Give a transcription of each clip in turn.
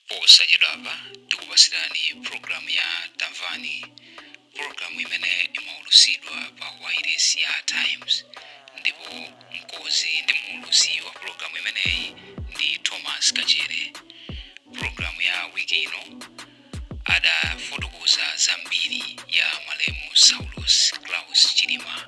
Posachedwapa tikupatsirani pulogalamu ya Tamvani, pulogalamu imene imaulutsidwa pa wailesi ya Times ndipo mkonzi ndi muulutsi wa pulogalamu imeneyi ndi Thomas Kachere. Pulogalamu ya wiki ino adafotokoza za mbiri ya malemu Saulos Klaus Chilima.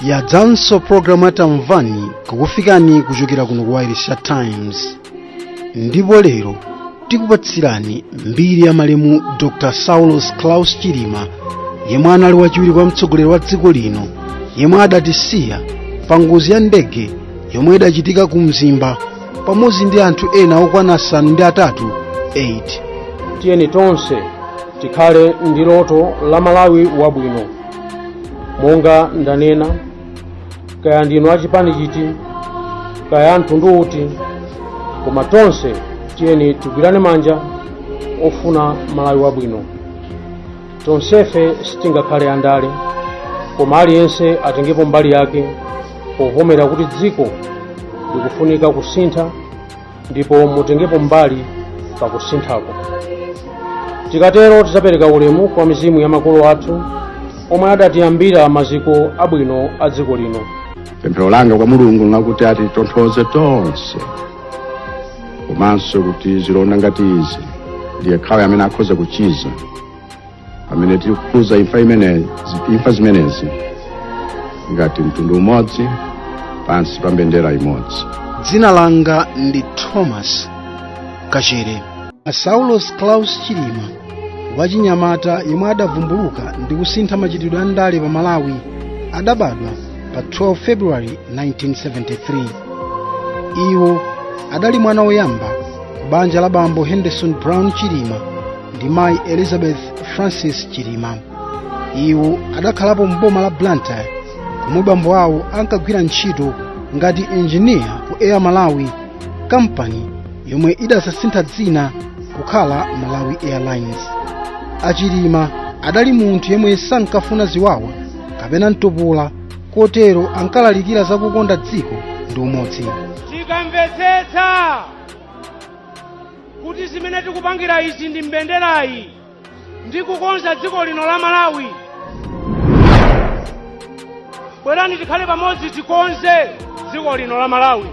yadzanso programu ya tamvani kukufikani kuchokera kuno ku wailesi ya times ndipo lero tikupatsirani mbiri ya malemu dr saulos claus chilima yemwe anali wachiwiri kwa mtsogoleri wa dziko lino yemwe adatisiya pa ngozi ya ndege yomwe idachitika ku mzimba pamodzi ndi anthu ena okwana asanu ndi atatu tiyeni tonse tikhale ndi loto la malawi wabwino monga ndanena kaya ndinu achipani chiti kaya a mtundu uti koma tonse tiyeni tigwirane manja ofuna malawi wabwino tonsefe sitingakhale andale koma aliyense atengepo mbali yake povomera kuti dziko likufunika kusintha ndipo mutengepo mbali pa kusinthako tikatero tidzapereka ulemu kwa mizimu ya makolo athu omwe adatiyambira maziko abwino a dziko lino pemphero langa kwa mulungu nlakuti atitonthoze tonse komanso kuti zilonda ngati izi ndi yekhayo amene akhoza kuchiza pamene tiri kukhuza imfa zimenezi ngati mtundu umodzi pansi pa mbendera imodzi dzina langa ndi thomas kachere saulos claus chilima wachinyamata yemwe adavumbuluka ndi kusintha machitidwe a ndale pa malawi adabadwa pa 12 february 1973 iwo adali mwana woyamba banja la bambo henderson brown chilima ndi mayi elizabeth francis chilima iwo adakhalapo m'boma la blantyre komwe bambo awo ankagwira ntchito ngati enjiniya ku air malawi kampani yomwe idadzasintha dzina kukhala malawi airlines achilima adali munthu yemwe sankafuna ziwawa kapena mtopola kotero ankalalikira za kukonda dziko ndi umodzi tikamvetsetsa kuti zimene tikupangira izi ndi mbenderayi ndi kukonza dziko lino la malawi bwerani tikhale pamodzi tikonze dziko lino la malawi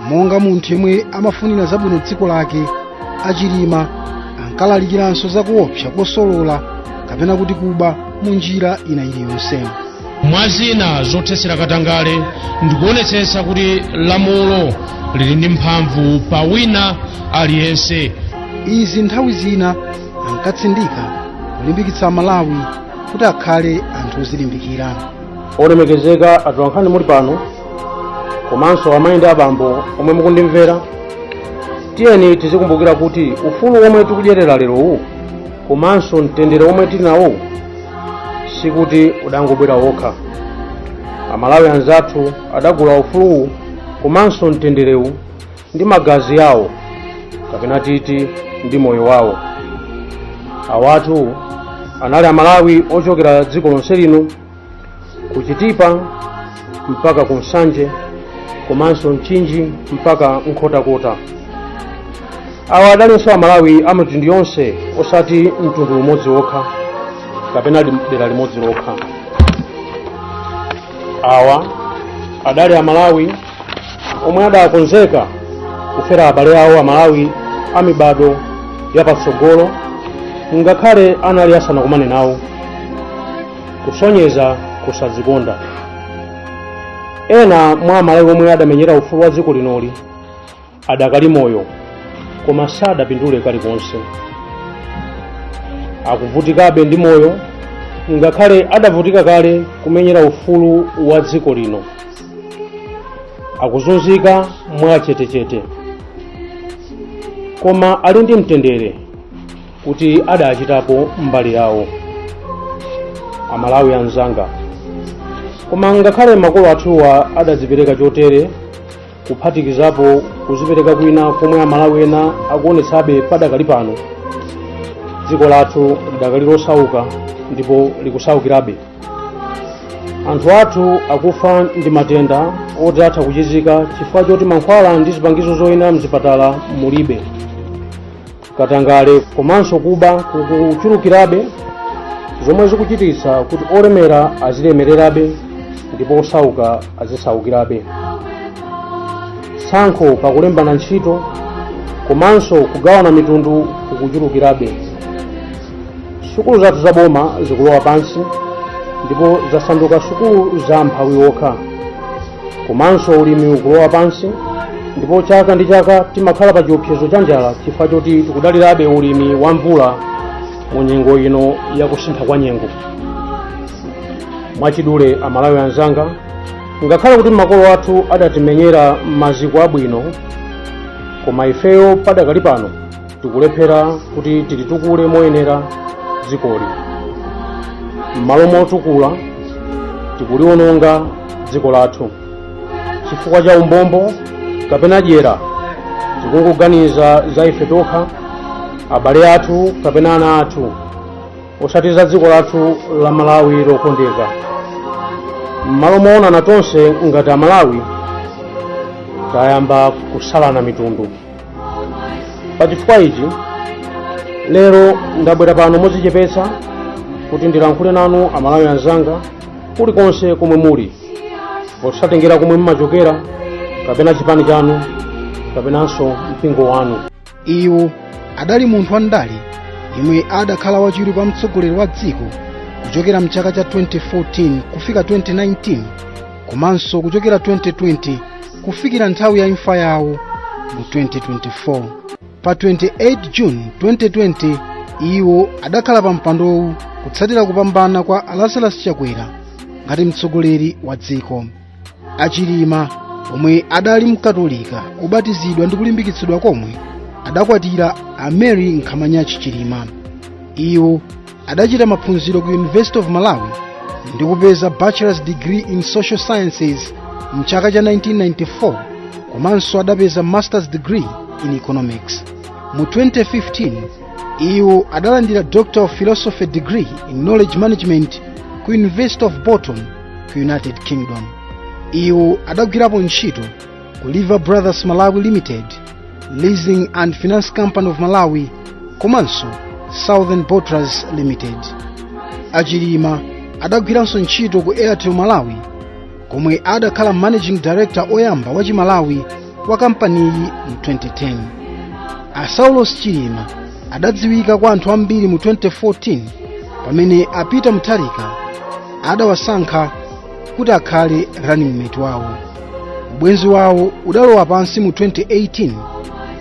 monga munthu yemwe amafunira zabwino dziko lake achilima ankalalikiranso zakuopsa kosolola kapena kuti kuba mu njira ina iliyonse mwa zina zothetsera katangale ndikuonetsetsa kuti lamulo lili ndi mphamvu pa wina aliyense izi nthawi zina ankatsindika kulimbikitsa amalawi kuti akhale anthu ozilimbikira olemekezeka atolankhani muli pano komanso amayi ndi abambo omwe mukundimvera tiyeni tizikumbukira kuti ufulu womwe tikudyerera lerowu komanso mtendere womwe tili nawo sikuti udangobwera wokha amalawi anzathu adagula ufuluwu komanso mtenderewu ndi magazi awo kapena titi ndi moyo wawo awatu anali amalawi ochokera dziko lonse lino ku chitipa mpaka ku nsanje komanso mchinji mpaka nkhotakota awa adalinso amalawi a mitundu yonse osati mtundu umodzi wokha kapena lim- dera limodzi lokha awa adali amalawi omwe adakonzeka kufera abale awo amalawi a mibado yapatsogolo ngakhale anali asanakumane nawo kusonyeza kusadzikonda ena mwa amalawi omwe adamenyera ufulu wa dziko linoli adakali moyo koma sadapindule kalikonse akuvutikabe ndi moyo ngakhale adavutika kale kumenyera ufulu wa dziko lino akuzunzika mwachetechete koma ali ndi mtendere kuti adachitapo mbali yawo amalawi anzanga koma ngakhale makolo athuwa adazipereka chotere kuphatikizapo kuzipereka kwina komwe amalawi ena akuonetsabe padakali pano dziko lathu lidakali losauka ndipo likusaukirabe anthu athu akufa ndi matenda oti atha kuchizika chifukwa choti mankhwala ndi zipangizo zoyenera mzipatala mulibe katangale komanso kuba kukuchulukirabe zomwe zikuchititsa kuti olemera azilemererabe ndipo osauka azisaukirabe tsankho pakulembana ntchito komanso kugawana mitundu kukuchulukirabe sukulu zathu za boma zikulowa pansi ndipo zasanduka sukulu za amphawi okha komanso ulimi ukulowa pansi ndipo chaka ndi chaka timakhala pa chiopsezo cha njala chifukwa choti tikudalirabe ulimi wa mvula mu nyengo ino ya kusintha kwa nyengo mwachidule amalawi anzanga ngakhale kuti makolo athu adatimenyera maziko abwino koma ifeyo padakali pano tikulephera kuti tilitukule moyenera dzikoli m'malo motukula tikuliwononga dziko lathu chifukwa cha umbombo kapena dyera tikungoganiza za ife tokha abale athu kapena ana athu osati za dziko lathu la malawi lokondeka m'malo moonana tonse ngati amalawi tayamba kusalana mitundu pa chifukwa ichi lero ndabwera pano modzichepetsa kuti ndilankhule nanu amalawi anzanga kulikonse komwe muli posatengera komwe mumachokera kapena chipani chanu kapenanso mpingo wanu iwo adali munthu wandale yemwe adakhala wachiwiri kwa mtsogoleri wa dziko kuchokera mchaka cha 2014 kufika 2019 komanso kuchokera 2020 kufikira nthawi ya imfa yawo mu 2024 pa 28 june 2020 iwo adakhala pa mpandowu kutsatira kupambana kwa Lazarus chakwera ngati mtsogoleri wa dziko achilima omwe adali mkatolika obatizidwa ndi kulimbikitsidwa komwe adakwatira a mary nkhamanyachi chilima iwo adachita maphunziro ku university of malawi ndi kupeza bachelor's degree in social sciences mchaka cha 1994 komanso adapeza master's degree in economics mu 2015 iwo adalandira doctor of philosophy degree in knowledge management ku university of bolton ku united kingdom iwo adagwirapo ntchito ku lever brothers malawi limited leasing and finance company of malawi komanso southern bottlers limited achilima adagwiranso ntchito ku airtel malawi komwe adakhala managing director oyamba wa chimalawi wa kampaniyi mu 2010 a saulos chilima adadziwika kwa anthu ambiri mu 2014 pamene a peter mutharika adawasankha kuti akhale running mate wawo ubwenzi wawo udalowa pansi mu 2018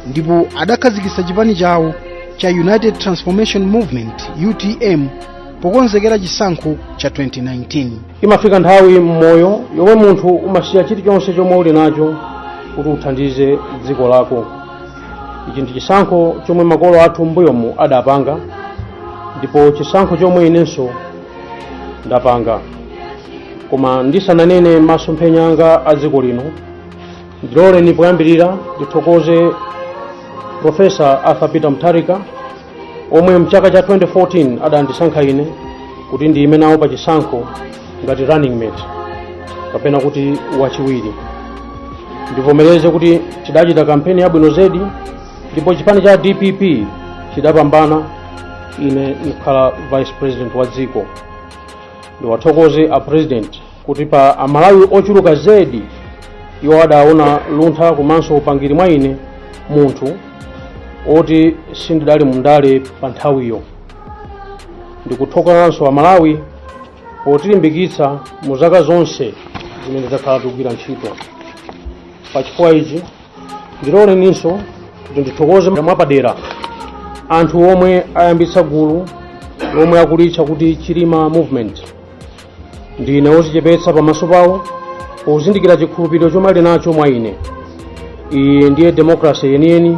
ndipo adakhazikitsa chipani chawo cha united transformation movement utm pokonzekera chisankho cha 2019 imafika nthawi mmoyo yomwe munthu umasiya chilichonse chomwe uli nacho kuti uthandize dziko lako ichi ndi chisankho chomwe makolo athu mbuyomu adapanga ndipo chisankho chomwe inenso ndapanga koma ndisananene masomphenya anga a dziko lino ndiloleni poyambirira ndithokoze profesa arthur peter mutharika omwe mchaka cha 2014 adandisankha ine kuti ndiyime nawo pa chisankho ngati running mate kapena kuti wachiwiri ndivomereze kuti tidachita kampeni yabwino zedi ndipo chipani cha dpp chidapambana ine ndikhala vice president wa dziko ndiwathokoze a president kuti pa amalawi ochuluka zedi iwo adaona luntha komanso upangiri mwa ine munthu oti sindidali mundale pa nthawiyo ndikuthokozanso amalawi potilimbikitsa mu zaka zonse zimene takhala tikugwira ntchito pa chifukwa ichi ndiloleninso kuti ndithokoze mwapadera anthu omwe ayambitsa gulu lomwe akulitcha kuti chilima movement ndine wozichepetsa pamaso pawo pozindikira chikhulupiriro chomwe ali nacho mwa ine iyi ndiye demokrasi yeniyeni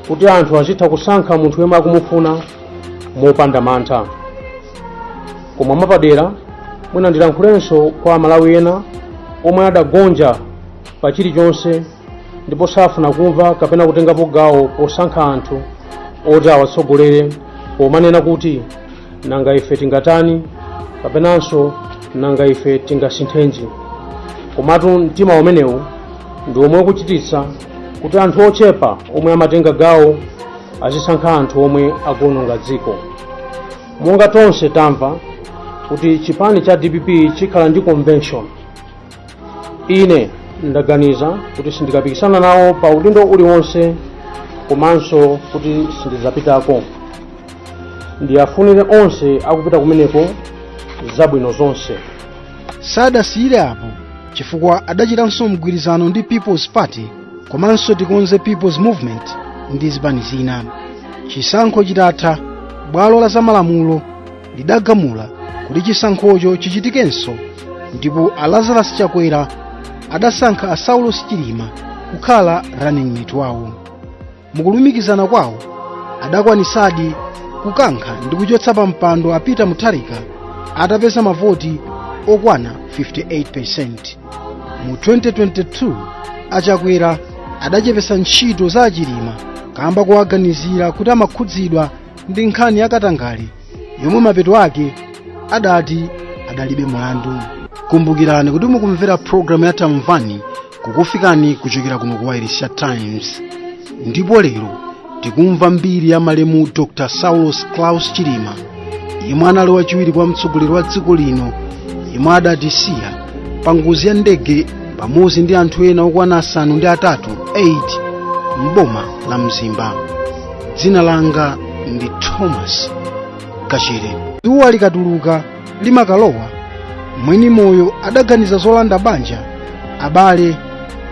kuti anthu azitha kusankha munthu yemwe akumufuna mopanda mantha koma mwapadera mwina ndilankhulenso kwa amalawi ena omwe adagonja pa chilichonse ndipo safuna kumva kapena kutengapo gawo posankha anthu oti awatsogolere pomanena kuti nanga ife tingatani kapenanso nanga ife tingasinthenji komatu mtima umenewu ndi omwe ukuchititsa kuti anthu ochepa omwe amatenga gawo azisankha anthu omwe akuononga dziko monga tonse tamva kuti chipani cha dpp chikhala ndi convention ine ndaganiza kuti sindikapikisana nawo pa udindo uliwonse komanso kuti sindizapitako ndiwafunire onse akupita kumeneko zabwino zonse sadasiyire apo chifukwa adachitanso mgwirizano ndi people's party komanso tikonze people's movement ndi zipani zina chisankho chitatha bwalo la zamalamulo lidagamula kuti chisankhocho chichitikenso ndipo a lazarus chakwera adasankha a saulos chilima kukhala running mate wawo mukulumikizana kwawo adakwanisadi kukankha ndi kuchotsa pa mpando a peter mutharika atapeza mavoti okwana 58% mu 2022 a chakwera adachepetsa ntchito za a chilima kamba kowaganizira kuti amakhudzidwa ndi nkhani ya katangale yomwe mapeto ake adati adalibe mlandu kumbukirani kuti mukumvera programu ya tamvani kukufikani kuchokera kuno ku wailesi ya times ndipo lero tikumva mbiri ya malemu dr saulos klaus chilima yemwe anali wachiwiri kwa mtsogoleri wa dziko lino yemwe adatisiya pa ngozi ya ndege pamodzi ndi anthu ena okwana asanu ndi atatu m'boma la mzimba dzina langa ndi thomas kachere dzuwa likatuluka limakalowa mwini moyo adaganiza zolanda banja abale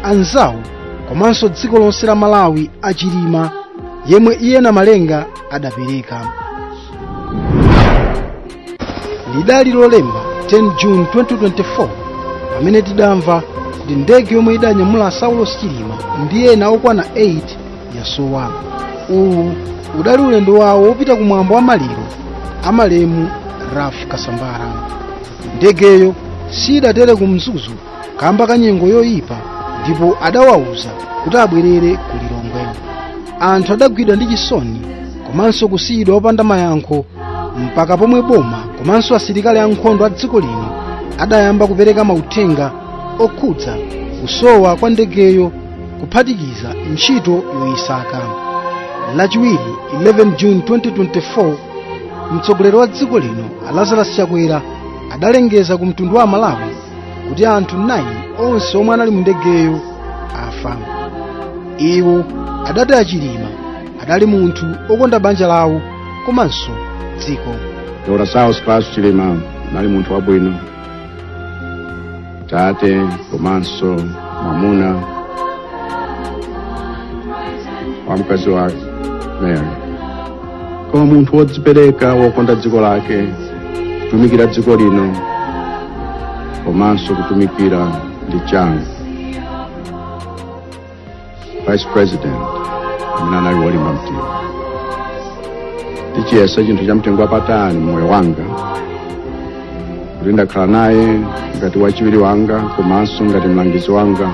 anzawo komanso dziko lonse la malawi achilima yemwe iye namalenga adapereka lidali lolemba 10 june 2024 pamene tidamva kuti ndege yomwe idanyamula saulos chilima ndi ena okwana 8 yasowa uwu udali ulendo wawo wopita ku mwambo wa maliro a malemu ralph kasambara ndegeyo siyidatere ku mzuzu kamba ka nyengo yoyipa ndipo adawauza kuti abwerere ku lilongwe anthu adagwidwa ndi chisoni komanso kusiyidwa opanda mayankho mpaka pomwe boma komanso asilikali ankhondo a dziko lino adayamba kupereka mauthenga okhudza kusowa kwa ndegeyo kuphatikiza ntchito yoyisaka lachiwiri 11 june 2024 mtsogoleri wa dziko lino lazarus chakwera adalengeza ku mtundu wa malawi kuti anthu 9 onse omwe anali mu ndegeyo afa iwo adati achilima adali munthu okonda banja lawo komanso dziko Dr. Saulos Klaus Chilima anali munthu wabwino tate komanso mamuna wa mkazi wake Mary koma munthu wodzipereka wokonda dziko lake kutumikira dziko lino komanso kutumikira ndi changu vice president amene anali wolimba mtima ndichiyesa chinthu cha mtengo wapatali mmoyo wanga kuti ndakhala naye ngati wachiwiri wanga komanso ngati mlangizi wanga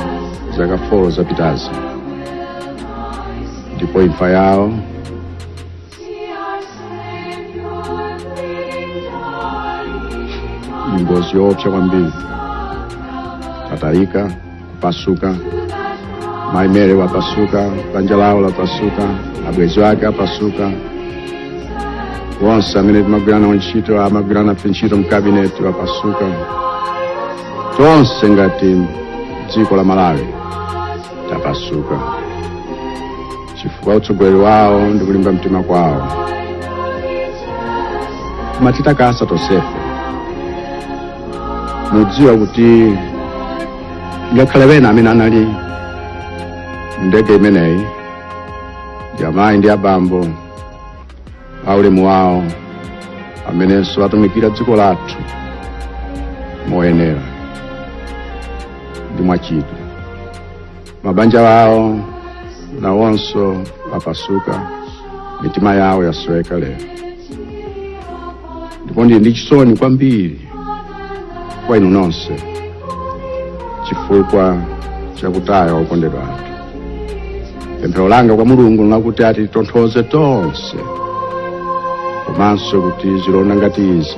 zaka 4 zapitazi ndipo imfa yawo ni ngozi yoopsya kwambiri tatalika kupasuka mayi mary wapasuka banja lawo lapasuka abwenzi ake apasuka onse amene timagwirana nawo ntchito amagwirana nafe ntchito mkabineti wapasuka tonse ngati dziko la malawi tapasuka chifukwa utsogoleri wawo ndi kulimba mtima kwawo kumatitakasa tonsefe mudziwa kuti ngakhale ena amene anali mndege imeneyi ndi amayi ndi abambo aulemu wawo amenenso watumikira dziko lathu moyenera ndi mwachidwi mabanja wawo nawonso apasuka mitima yawo yasweka lero ndipo ndili ndi chisoni kwambiri kwa inu nonse chifukwa chakutaya okondedwa athu pemphero langa kwa mulungu nlakuti atitonthoze tonse komanso kuti zilonda ngati izi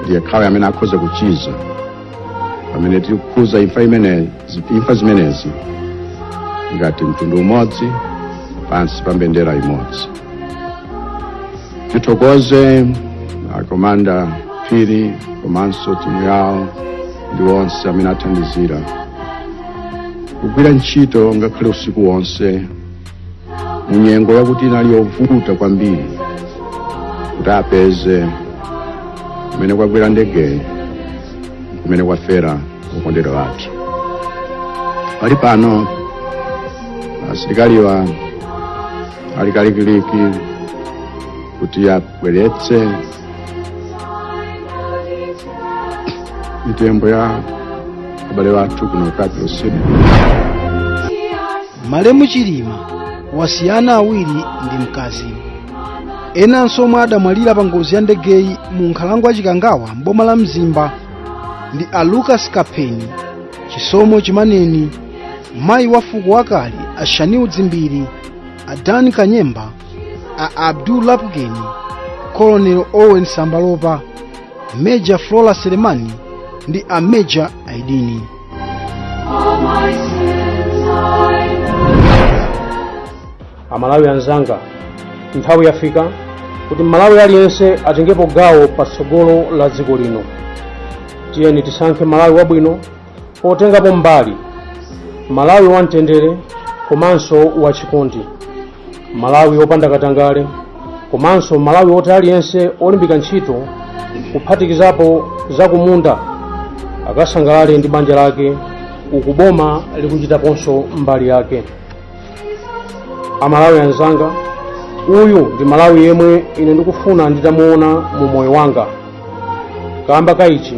ndi yekhayo amene akhoza kuchiza pamene tili kukhuza imfa imeneyi imfa zimenezi ngati mtundu umodzi pansi pa mbendera imodzi tithokoze akomanda phiri komanso timu yawo ndi onse amene athandizira kugwira ntchito ngakhale usiku wonse mu nyengo yakuti inali yovuta kwambiri kuti apeze kumene kwagwera ndegeyi kumene kwafera okondedwa athu pali pano asilikaliwa ali kalikiliki kuti abweretse mitembo ya abale wathu kuno ku capital city malemu chilima wasiya ana awiri ndi mkazi enanso omwe adamwalira pa ngozi ya ndegeyi mu nkhalango ya chikangawa mboma la mzimba ndi a lucas kapheni chisomo chimaneni mayi wa fuko wakale a shanil dzimbiri a dan kanyemba a abdul lapukeni colonel owen sambalopa major flora selemani ndi a major aidini amalawi anzanga nthawi yafika kuti malawi aliyense atengepo gawo pa tsogolo la dziko lino tiyeni tisankhe malawi wabwino potengapo mbali malawi wamtendere komanso wachikondi malawi opanda katangale komanso malawi oti aliyense olimbika ntchito kuphatikizapo zakumunda akasangalale ndi banja lake uku boma likuchitaponso mbali yake amalawi anzanga uyu ndi malawi yemwe ine ndikufuna nditamuona mu moyo wanga kamba ka ichi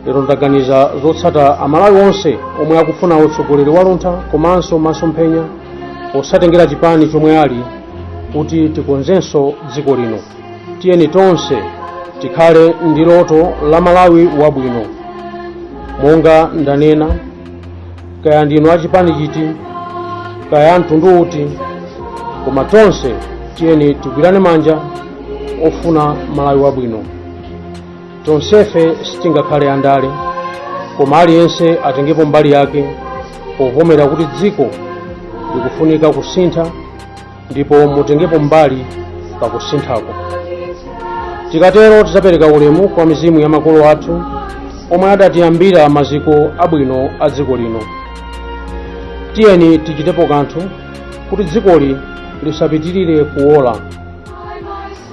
lero ndaganiza zotsata amalawi onse omwe akufuna utsogoleri waluntha komanso masomphenya osatengera chipani chomwe ali kuti tikonzenso dziko lino tiyeni tonse tikhale ndi loto la malawi wabwino monga ndanena kaya ndinu a chipani chiti kaya mtundu uti koma tonse tiyeni tigwirane manja ofuna malawi wabwino tonsefe sitingakhale andale koma aliyense atengepo mbali yake povomera kuti dziko likufunika kusintha ndipo mutengepo mbali pa kusinthako tikatero tidzapereka ulemu kwa mizimu ya makolo athu omwe adatiyambira maziko abwino a dziko lino tiyeni tichitepo kanthu kuti dzikoli lisapitirire kuwola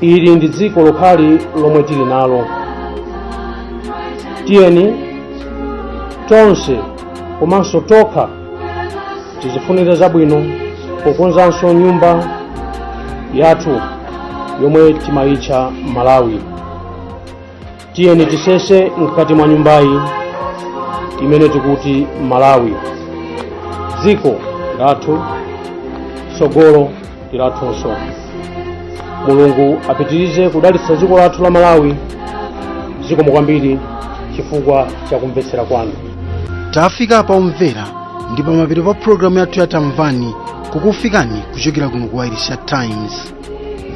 ili ndi dziko lokhali lomwe tili nalo tiyeni tonse komanso tokha tizifunire zabwino pokonzanso nyumba yathu yomwe timayitcha malawi tiyeni tisese mkati mwa nyumbayi imene tikuti malawi dziko lathu tsogolo ndi lathunso mulungu apitirize kudalitsa dziko lathu la malawi zikomo kwambiri chifukwa cha kumvetsera kwanu tafika pa omvera ndi pamapeto pa pulogalamu yathu ya tamvani kukufikani kuchokera kuno ku wailesi ya times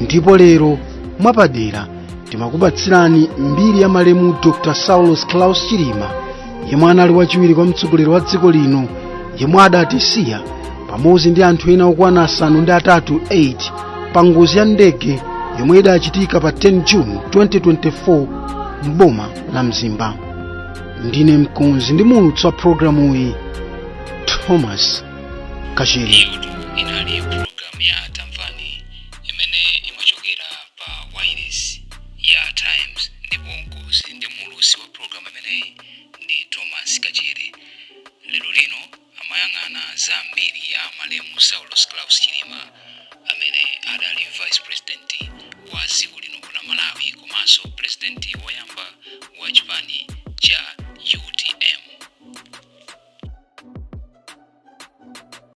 ndipo lero mwapadera timakupatsirani mbiri ya malemu dr saulos klaus chilima yemwe anali wachiwiri kwa mtsogoleri wa dziko lino yemwe adatisiya pamodzi ndi anthu ena okwana asanu ndi atatu 8 pa ngozi ya ndege yomwe idachitika pa 10 june 2024 m'boma la mzimba ndine mkonzi ndi muulutsi wa programuyi thomas kachere pa wailesi ya Times ndipo mkonzi ndi muulutsi wa programu imeneyi ndi Thomas Kachere. Lero lino amayang'ana za mbiri ya malemu Saulos Klaus Chilima amene adali vice president wa dziko lino la Malawi komanso president woyamba wa chipani cha UTM.